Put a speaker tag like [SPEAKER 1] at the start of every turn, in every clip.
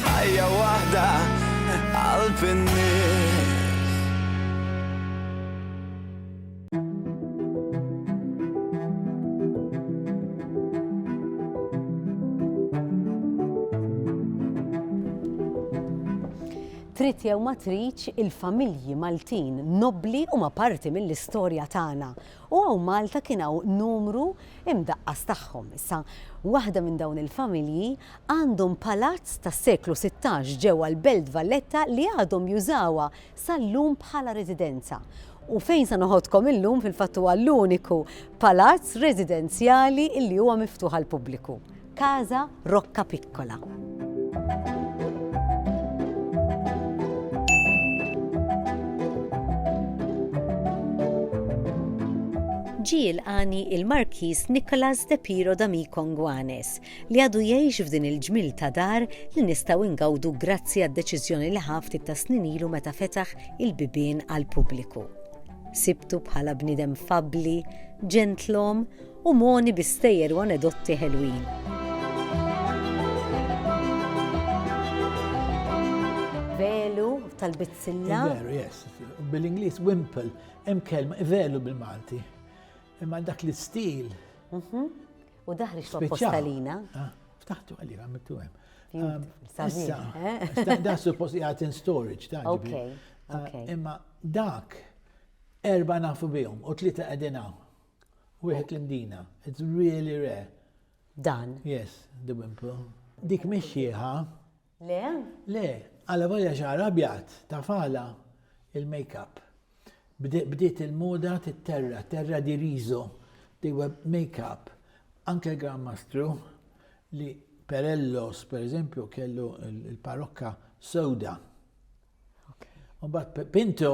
[SPEAKER 1] Ħajja waħda qalb in-nies.
[SPEAKER 2] Trid jew ma tridx, il-familji Maltin nobbli huma parti mill-istorja tagħna U hawn Malta kien hawn numru imdaqqas tagħhom. Issa, waħda minn dawn il-familji għandhom palazz tas-seklu sittax ġewwa l-Belt Valletta li għadhom jużawha sal-lum bħala residenza. U fejn sa noħodkom illum fil-fatt huwa l-uniku palazz residenzjali li huwa miftuħ għall-pubbliku. Casa Rocca Piccola. ġie jilqani il-Markiż Nicolas de Piro d'Amico Ngwanes li għadu jgħix f'din il-ġmil ta' dar li nistgħu ingawdu grazzi għad-deċiżjoni li ħaf ta' snin ilu meta fetaħ il-bibien għal pubbliku. Sibtu bħala bniedem fabbli, ġentlom u mogħni bi stejjer u anedotti ħelwin. Velu tal-bizzilla. Velu, yes.
[SPEAKER 3] Bil-Inglis wimple, hemm kelma velu bil-Malti. Imma dak l-istil. Mhm.
[SPEAKER 2] U daħri xwa postalina. Ah, ftaħtu għalli
[SPEAKER 3] għamittu hemm. Um, issa, eh? da suppost jgħat in storage, ta' ah, Imma dak erba nafu bihom u tlita għedinaw. Wieħed indina. It's really rare. Dan.
[SPEAKER 2] Yes, the
[SPEAKER 3] wimple. Dik mhix xieħa. Le?
[SPEAKER 2] Le,
[SPEAKER 3] għala volja xar abjad, tafala il-makeup. Bdiet il-moda tit-terra, terra di rizo, di web makeup. Anke l-Gran Mastru li Perellos, per eżempju, kellu il-parokka soda. Umbat Pinto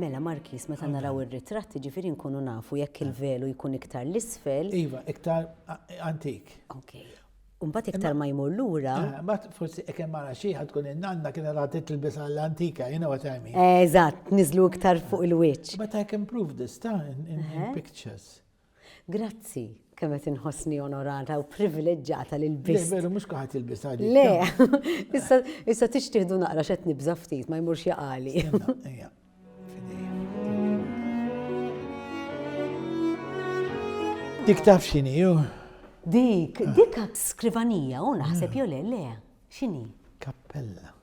[SPEAKER 2] Mela Markis, meta naraw ir-ritratt, ġifieri nkunu nafu jekk il-velu jkun iktar l-isfel. Iva, iktar
[SPEAKER 3] antik. Ok.
[SPEAKER 2] Umbat iktar ma jmur lura. Eh, ma forsi jekk
[SPEAKER 3] hemm ara xi tkun in-nanna kien ara titlbis għall-antika, you know what I mean. Eżatt, niżlu
[SPEAKER 2] iktar fuq il-wiċċ. But I can prove this
[SPEAKER 3] ta' in pictures. Grazzi,
[SPEAKER 2] kemm qed inħossni onorata u privileġġata li lbist. Veru mhux kaħat jilbis
[SPEAKER 3] għadi. Le,
[SPEAKER 2] issa tixtieħdu naqra x'qed nibża' ftit ma jmurx jaqali.
[SPEAKER 3] Dik taf xini, ju? Dik,
[SPEAKER 2] dik skrivanija, u naħseb jo le, le, xini? Kappella.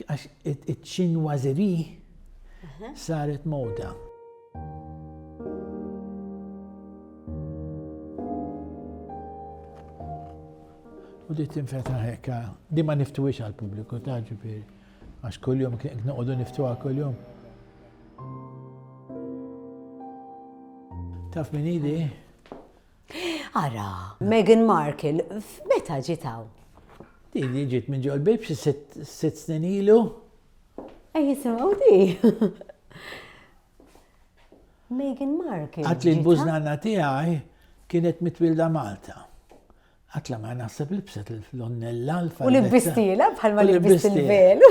[SPEAKER 3] Għax iċ-Chinoiserie saret moda. U di tinfetaħ hekk, di ma niftuwix għall-pubbliku ta' ġifieri. Għax kuljum kien noqogħdu niftuha kuljum. Taf min idi?
[SPEAKER 2] Ara, Meghan Markle, f'meta ġiet hawn? Din li
[SPEAKER 3] ġiet minn ġol bib xi sitt snin ilu. Ej
[SPEAKER 2] jisimgħu di. Meghan Markle. Għat li l-bużnana
[SPEAKER 3] tiegħi kienet mitwilda Malta. Għatla ma naħseb li bset l-onnella l-fajn. U l-bistila
[SPEAKER 2] bħalma l-bistila.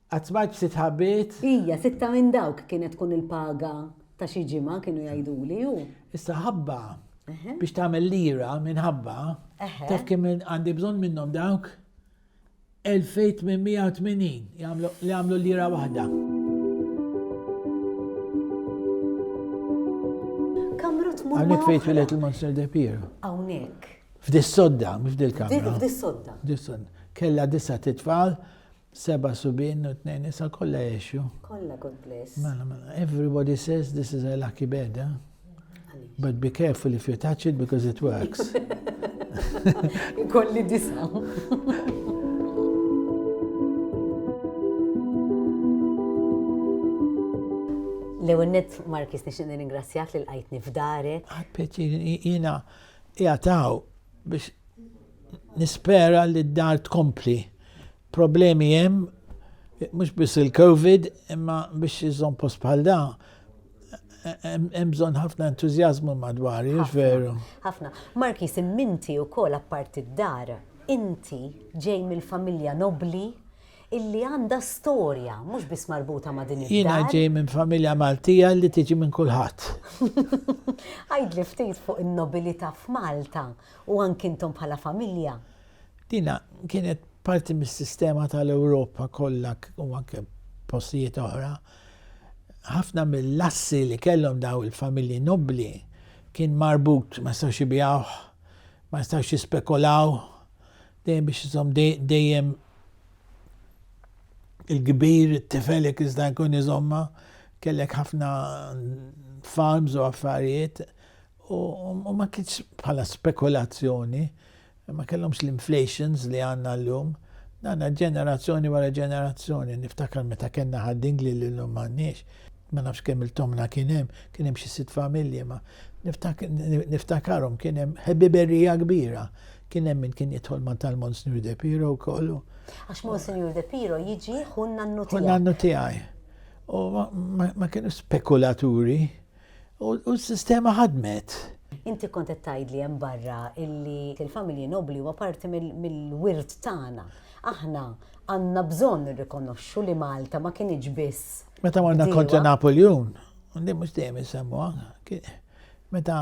[SPEAKER 2] Qatt m'għadtx
[SPEAKER 3] sitt ħabbiet? Hija, sitta minn
[SPEAKER 2] dawk kienet tkun il-paga
[SPEAKER 3] ta'
[SPEAKER 2] xi ġimgħa kienu jgħiduli hu.
[SPEAKER 3] Issa
[SPEAKER 2] ħabba
[SPEAKER 3] biex tagħmel lira minn ħabba, taf kemm għandi bżonn minnhom dawk? 2880 li għamlu lira waħda. Kamra tmur. Hawnhekk fejn twilet il-Monster de Pier. Hawnhekk.
[SPEAKER 2] F'dis-sodda,
[SPEAKER 3] mhux f'dil-kamra. F'dis-sodda.
[SPEAKER 2] F'dis-sodda. Kella
[SPEAKER 3] disa titfal Seba' subien u tnejn nisa kollha għexu. Kollha God bless.
[SPEAKER 2] Mela, mela. Everybody
[SPEAKER 3] says this is a lucky bed, eh? But be careful if you touch it because it works. Kolli
[SPEAKER 2] disa. L-ewwel net Markis nixtieq nirringrazzjak li lqajtni f'darek. Għad pjaċir
[SPEAKER 3] jiena jataw biex Nispera li d-dar tkompli. Problemi hemm mhux biss il-COVID, imma biex iżżomm post bħal da hemm bżonn ħafna entużjażmu madwar, jiex veru? Ħafna. Markis,
[SPEAKER 2] imminti wkoll apparti d-dar, inti ġej mill-familja nobbli illi għandha storja mhux biss marbuta ma' din id-dar. Jiena ġej minn familja
[SPEAKER 3] Maltija li tiġi minn kulħadd.
[SPEAKER 2] Għidli ftit fuq in-nobilità f'Malta. U anki intom bħala familja. Dina
[SPEAKER 3] kienet parti mis-sistema tal-Ewropa kollha u anke postijiet oħra. Ħafna mill-assi li kellhom daw il-familji nobbli kien marbut ma jistgħux jibjawh, ma jistgħux jispekolaw, dejjem biex iżomm dejjem il-kbir, it-tifel jekk iżda jkun iżomma, kellek ħafna farms u affarijiet U ma kienx bħala spekulazzjoni, ma kellhomx l-inflations li għandna llum. Għandna ġenerazzjoni wara ġenerazzjoni, niftakar meta kellna ħaddingli li llum m'għandniex, ma nafx kemm il-tomna kien hemm, kien hemm xi sitt familji, ma niftakarhom kien hemm ħebiberija kbira. Kien hemm min kien jidħol ma' tal-Monsignor De Piro wkoll. Għax Monsignor
[SPEAKER 2] De Piro jiġi ħun nannu tiegħi. Ħun nannu tiegħi.
[SPEAKER 3] U ma kienu spekulaturi. U s-sistema ħadmet. Inti kont qed
[SPEAKER 2] tgħidli hemm barra illi il-familji nobbli huwa parti mill-wirt tagħna. Aħna għandna bżonn nirrikonoxxu li Malta ma kinitx biss. Meta morna kontra
[SPEAKER 3] Napoleon, undi mhux dejjem isemmuha. Meta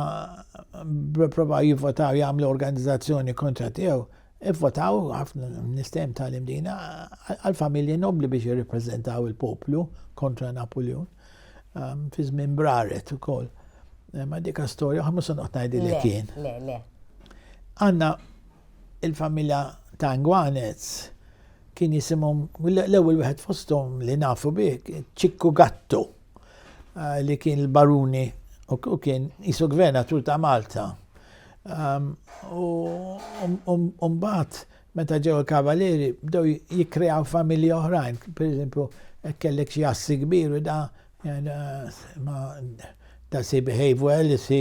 [SPEAKER 3] provaw jivvotaw jagħmlu organizzazzjoni kontra tiegħu, Ivvotaw ħafna nistem tal imdina għal-familji nobli biex jirripreżentaw il-poplu kontra Napoleon ehm, fi żmien braret ukoll. Eh, ma dika storja, għamu se noqgħod ngħidilek jien. Le, le.
[SPEAKER 2] Għandna
[SPEAKER 3] il-familja ta' Ngwanez kien jisimhom l-ewwel wieħed fosthom li nafu bih Ċikku Gattu eh, li kien il-baruni u kien jisu gvernatur ta' Malta. U mbagħad meta ġew il-kavalieri bdew jikkreaw familji oħrajn, pereżempju kellek xi assi kbir u da da si behave well, si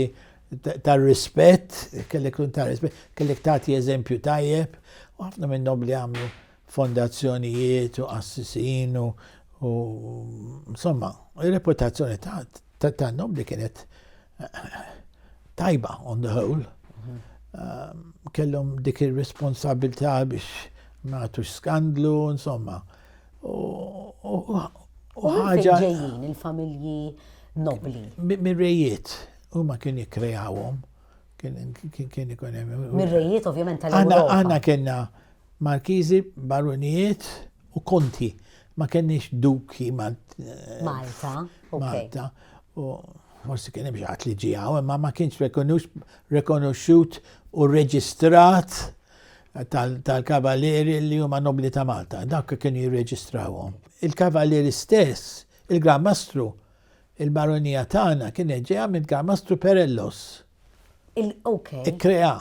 [SPEAKER 3] tar rispett, kellek tkun tar rispett, kellek tagħti eżempju tajjeb, u ħafna minn nobli għamlu fondazzjonijiet u qassisin u insomma, ir-reputazzjoni tan-nobli kienet tajba on the whole. Ehm, kellhom dik ir-responsabilità biex ma għatux skandlu, insomma. U ħaġa. ġejjin il-familji
[SPEAKER 2] nobli. Mir-rejiet,
[SPEAKER 3] u ma kien jikkreawhom, Kien ikun hemm. Mir-rejiet ovvjament
[SPEAKER 2] tal-Ewropa. Aħna kellna
[SPEAKER 3] markiżi, barunijiet u konti. Ma kenniex duki Malta.
[SPEAKER 2] Malta.
[SPEAKER 3] U forsi kien hemm xi li ġieħu, imma ma kienx rekonoxxut u reġistrat tal-kavalieri li huma nobli ta' Malta. Dak kien jirreġistrawhom. Il-kavalieri stess, il-Gran Mastru, Il-Baronija tagħna kienet ġejja minn Garmastru Perellos. Il ok. Ikkreha.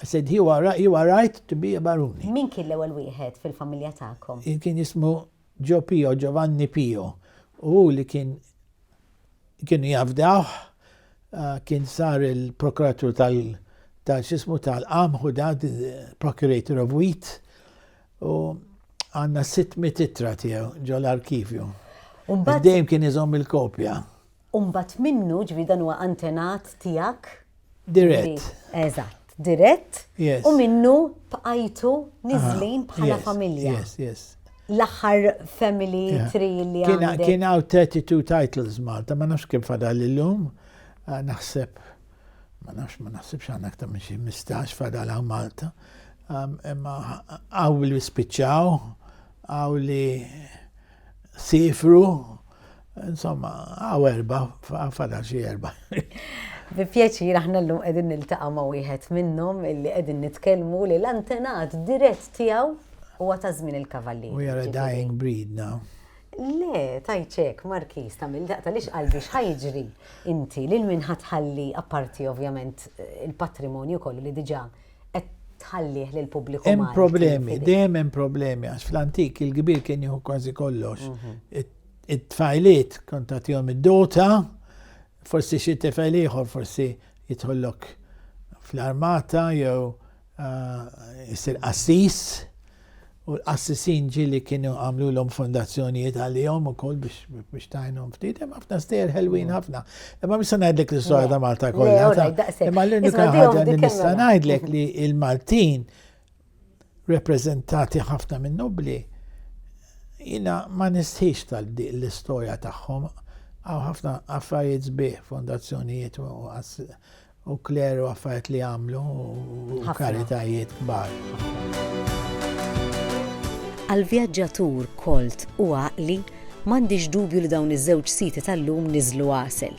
[SPEAKER 3] I said he wa ri- he wa right to be a baruni. Min kien l-ewwel wieħed
[SPEAKER 2] fil-familja tagħkom? Jien kien jismu
[SPEAKER 3] Ġo Pio, Giovanni Pio. U hu li kien kienu jafdawh, ah, kien sar il-prokuratur tal tal x'ismu tal-qamħ u da, the procurator of wheat. U għandna 600 ittra tiegħu ġol-arkivju. Dejjem kien iżomm il-kopja. U mbagħad
[SPEAKER 2] minnu, ġifieri dan huwa antenat tiegħek? Dirett.
[SPEAKER 3] Eżatt,
[SPEAKER 2] dirett. U minnu bqajtu niżlin bħala familja. Yes, yes.
[SPEAKER 3] L-aħħar
[SPEAKER 2] family tree li għandek. Kien hawn 32
[SPEAKER 3] titles Malta, ma nafx kemm fadal illum, naħseb. ma nafx ma naħsibx għandna aktar minn xi 15 fadal hawn Malta. Imma għaw li spiċċaw, għaw li sifru, insomma, għaw erba, fadal xi erba. Bi pjaċir
[SPEAKER 2] aħna llum qegħdin niltaqa' ma' wieħed minnhom illi qegħdin nitkellmu li l-antenat dirett tiegħu huwa ta' żmien il-kavalli. We are a dying
[SPEAKER 3] breed now. Le,
[SPEAKER 2] tajt hekk, Markiż, tagħmel daqqa għaliex qalbi x'ħa jiġri inti lil min ħa tħalli apparti ovvjament il-patrimonju kollu li diġà qed tħallih lill-pubbliku Malti. Hemm problemi, dejjem
[SPEAKER 3] hemm problemi għax fl-antik il-kbir kien jieħu kważi kollox. Mhm. It-tfajliet kont tagħtihom id-dota, Forsi xi tifel ieħor forsi jidħollok fl-armata jew jsir qassis u l-qassisin ġieli kienu għamlulhom fondazzjonijiet għalihom ukoll biex tajnhom ftit, hemm ħafna stejjer ħelwin ħafna. Imma mista ngħidlek l-istorja ta' Malta kollha. Imma l-unika ħaġa li nista' ngħidlek li l-Maltin repreżentati ħafna minn nubbli, jina ma nistħix tal-istorja tagħhom għaw ħafna affarijiet sbieħ, fondazzjonijiet u kleru affarijiet li għamlu u karitajiet kbar.
[SPEAKER 2] Għal vjaġġatur kolt u għaqli, m'għandix dubju li dawn iż-żewġ siti tal-lum niżlu għasel.